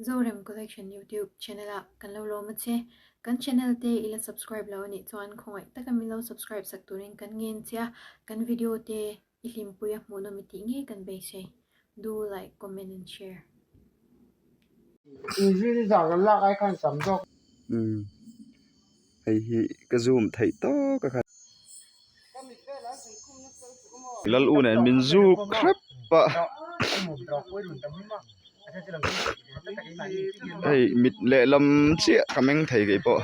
Zorem Collection YouTube Channel ah kan lo lawm a che. Kan channel te i la subscribe lo a nih chuan khawngaih taka min lo subscribe sak turin kan ngen che a. Kan video te I hlimpui a hmuhna mi tih ngei kan beisei. Do like, comment and share. I zin zak lo lak ai khan sam zawk. Umm hei hi ka zoom theih tawk a khan. Ka mit vel an sawi khum na fel chu awmaw. Lal u nen min zu khrap a. Hei mit lehlam chiah ka meng thei kei pawh.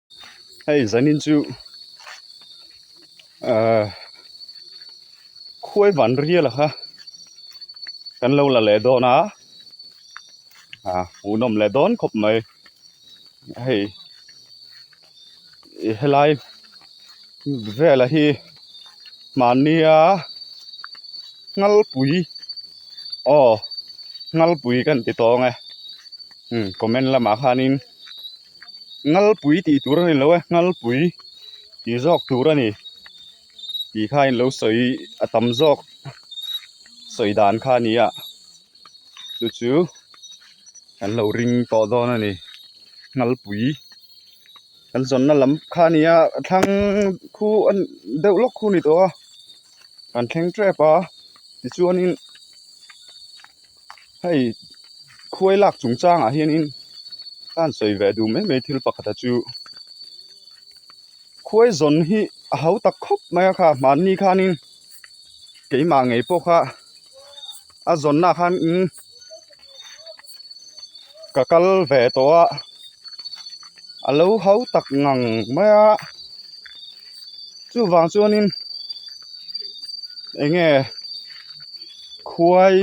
hei zanin chu ahh khuai van rial a kha kan lo la leh dawn a ah hu nawm leh dawn khawp mai hei he lai velah hi mahnia ngalpui aw ngalpui kan ti tawng e comment lamah khanin. ngalpui tih tur a ni lo a ngalpui ti zawk tur a ni tih kha in lo sawi a tam zawk sawi dan kha a ni a chu chu kan lo ring tawh dawn a ni ngalpui kan zawnna lam kha a ni a a thlang khu a ni deuh lawk khu a ni tawh a kan thleng tep a tichuan in-- hei khuai lak chung chang ah hian in tlan sawi ve duh mai mai thil pakhat a chu khuai zawn hi a hau tak khawp mai a kha mahni khan in keimah ngei pawh kha a zawn na khan in-- ka kal ve tawh a a lo ho tak ngang mai a chuvang chuan in eng nge khuai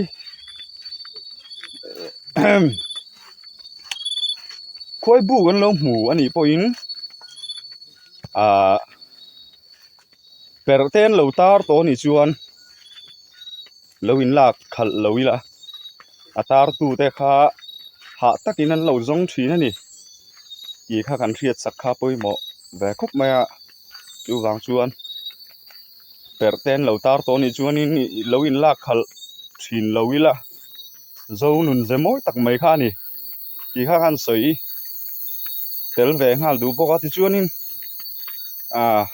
ehem khuai buk an lo hmu a nih pawhin ahh-- perh te an lo tar tawh a nih chuan lo in lak khalh lo ila a tar tu te kha hah tak in an lo zawng thin a ni tih kha kan hriat sak kha pawimawh ve khawp mai a chu vang chuan perh te an lo tar tawh a nih chuan in lo in lak khalh thin lo ila. zo nun ve mawi tak mai kha a ni tih kha khan sawi tel ve nghal duh bawk a tichuanin ah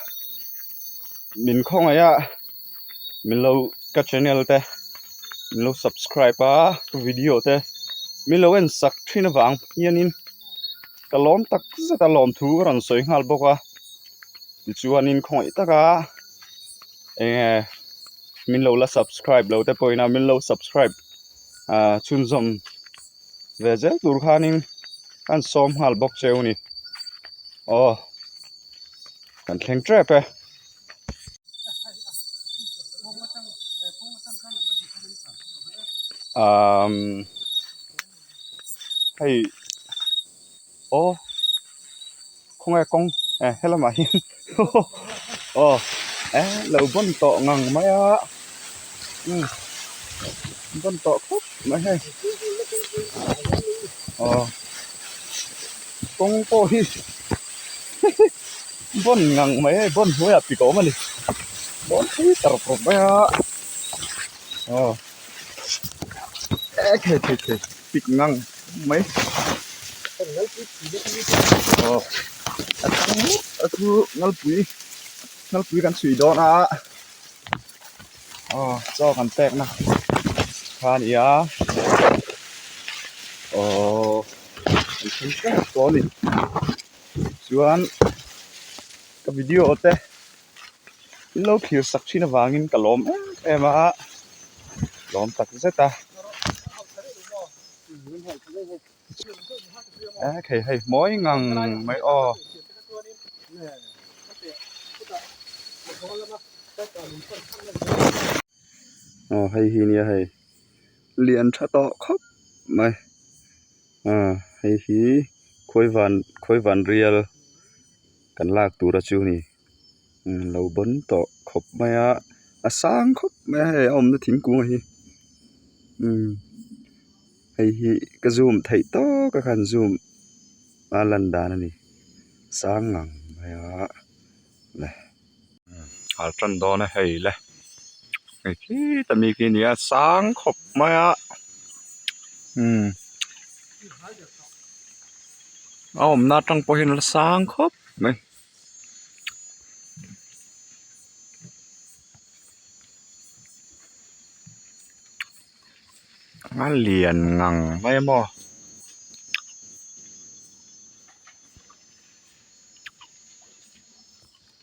min khawngaih a min lo ka channel te min lo subscribe a ka video te min lo en sak thin avang hianin. ka lawm tak zeta lawm thu ka rawn sawi nghal bawk a tichuanin khawngaih taka eng nge min lo la subscribe lo te pawhin a min lo subscribe ah chhunzawm ve zel tur khanin an sawm nghal bawk che a ni aw kan thleng tep e umm hei o khawnge kawng e helamah hian aw e lo bawn tawh ngang mai a bawn tawh khawp mai hei aw kawng pawh hi bawn ngang mai hei bawn hnuaiah pi ka awm a ni bawn pui ta rawk rawk mai a aw. Thei thei thei pik ngang mai aw a tam mup a chu ngalpui ngalpui kan chhui dawn a aw chaw kan pek na kha a ni a aww an chhun teuh pawh a ni chuan ka video te. lo khir sak thin avangin ka lawm em em a lawm tak zet a a khei hei mawi ngang mai aw aw hei hi nia hei lian tha tawh khawp mai a hei hi khawivan khawivan rial. kan lak tura chu hei lo bawn tawh khawp mai a a sang khawp mai a hei a awmna thingkung hi imm hei hi ka zoom theih tawk a khan zoom a lan dan a ni sang ngang mai a leh. a tan dawn a hei le hei khi ta mi khi a ni a sang khawp mai a umm a awmna atang pawh hian a la sang khawp mai.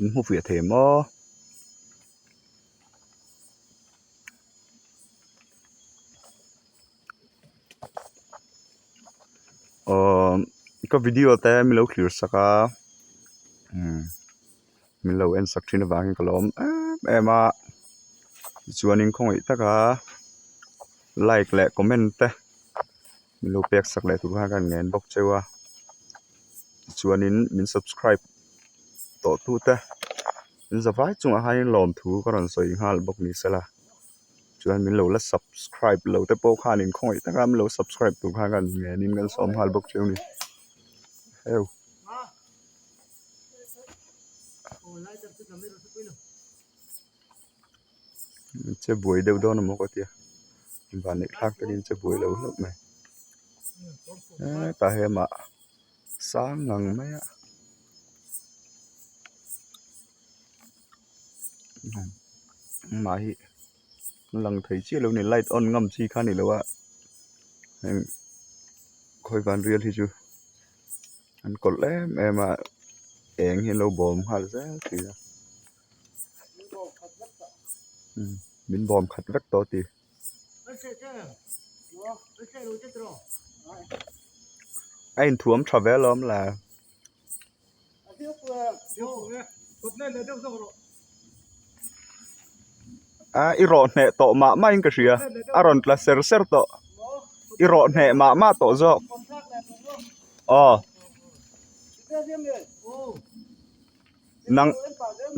in hmufiah thei maw umm ka video te min lo thlir sak a umm min lo en sak thin avangin ka lo awm em em a tichuanin khawngaih taka like leh comment te-- Min lo pek sak leh tur khan ka rawn ngen bawk cheu a tichuanin min subscribe tawh tu te min za vai chungah khanin lawm thu ka rawn sawi nghal bawk ni se la chuan min lo la subscribe lo te pawh khan in khawi taka min lo subscribe tur khan ka rawn ngenin kan sawm nghal bawk cheu a ni heuh. che buai deuh dawn a maw ka tia vanlek thlak te hi che buai lo hlauh mai hetah hian mah sang ang mai a mah hi a lang thei chiah lo a ni light on ngam chi kha a ni lo a heng khawi van rial hi chu an kawlh em em a eng hi an lo bawm nghal zet mai a. min bawm khat vek tawh a ti. A inthuam tha ve alawm la. A i rawh hneh tawh mah mah in ka hria a rawn tla ser ser tawh i rawh hneh mah mah tawh zawk aw. nang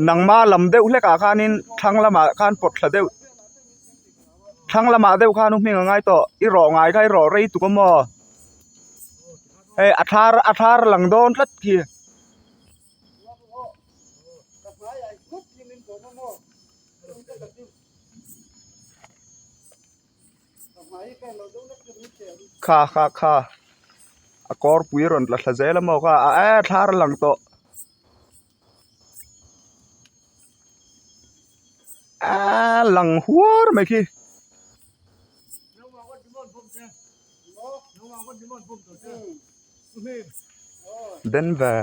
nangma lam deuh hlekah khanin thlang lamah khan pawt thla deuh thlang lamah deuh khan u hming a ngai tawh i rawh ngai kha i rawh rei tuk amaw hei a thlar a thlar lang dawn tlat khi Kha kha kha a kawrpui a rawn tla thla zel a maw kha a eee thlar a lang tawh eeee lang huar mai khi denver.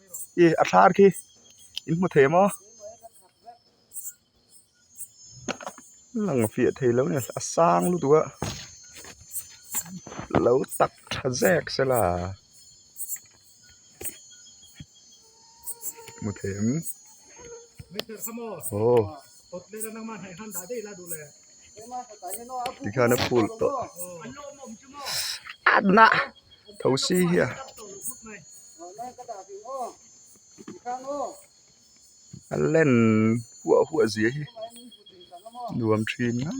i a thlar khi i hmu thei maw lang fiah thei lo nia a sang lutuk a lo tak tha zek se la hmu thei ang aw. tikhian a phul tawh anna thosi hian a len huah huah zia hi nuam thin mai.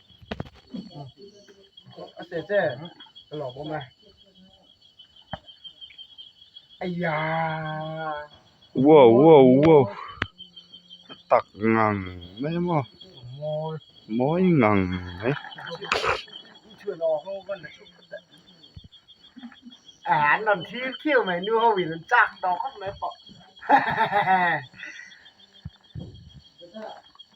Wow wow wow tak ngang mai maw mawi ngang mai hahahaha.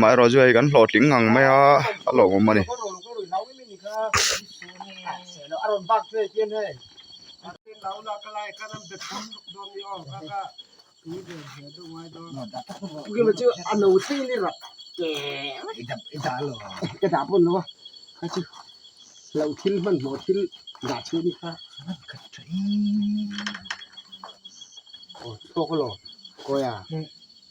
mah erawh chu hei kan hlawh tling ngang mai a a lawm awm a ni.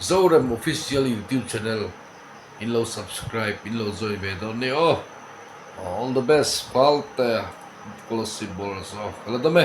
Zorem official youtube channel in lo subscribe in lo join ve dawn ni aw all the best balte scholarship boruak zawh ka la dam e.